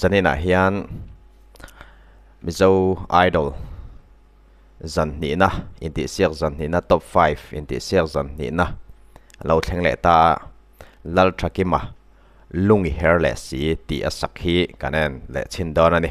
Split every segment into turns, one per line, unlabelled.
zanin ah hian mizo idol zan hnihna intihsiak zan hnihna top five intihsiak zan hnihna a lo thleng leh ta a lal tha kima lungi her leh si tih a sak hi kan en leh chhin dawn a ni.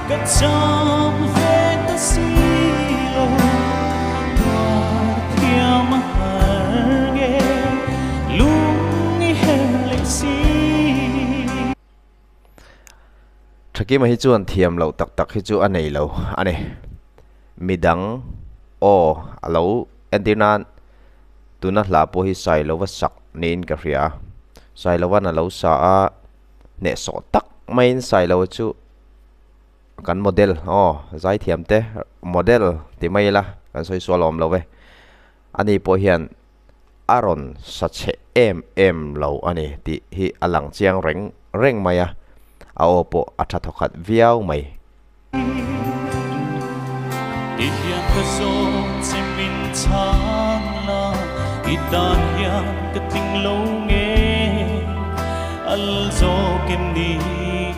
Ka cham ve ta si lo Puarthiam a har nge Lung i her leh si. Thakima hi chuan thiam loh tak tak hi chu a nei lo a ni. Midang aw a lo entir nan tuna hla pawh hi sai lo va sak niin ka hria a. Sai lo a na lo sa a, hnehsawh tak maiin sai lo chu. kan model aw zai thiam te model ti mai la kan sawi sual awm lo e ani pawh hian a rawn sa chhe em em lo a ni tih hi a lang chiang reng reng mai a a aw pawh a tha thaw khat viau mai i hian ka zawng che min chhang la i tan hian ka tling lo nge al zawk em ni.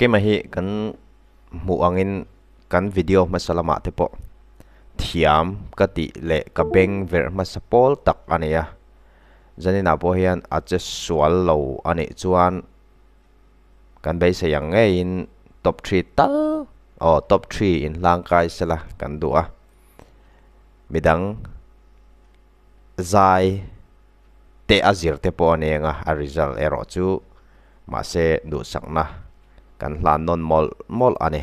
Thakim a hi kan hmuh angin kan video hmasa lamah te pawh thiam ka tih leh ka beng verh hmasa pawl tak a ni a zaninah pawh hian a che sual lo a nih chuan Kan beisei ang ngeiin top three tal aw top three in hlang kai se la kan duh a. Midang zai te a zir te pawh a neng a a result erawh chu mahse duhsakna kan hlan nawn mawlh mawlh a ni.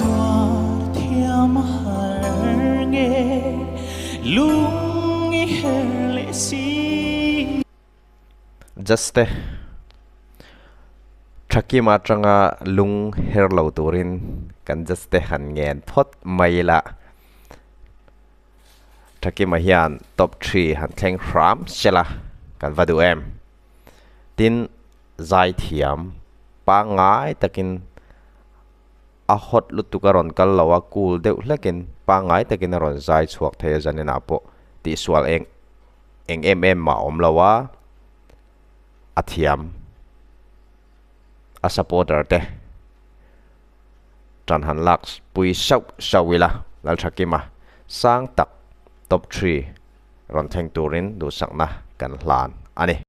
Tuar thiam a har nge lung i her leh si nge. Judge te Thakim atanga lung her lo turin kan judge te han ngen phawt mai ila. Thakim a hian top three han thleng hram sela kan va duh em. Tin Zaithiam pangngai takin. a hot lutuk a rawn kal lo a, kul deuh hlekin, pangngai takin a rawn zai chhuak thei a Janina pawh tihsual eng eng em em mah awm lo a, a thiam a supporter te tan han lak pui sauh sauh ila, Lalthakima sang tak top three rawn thleng turin duhsakna kan hlan a ni.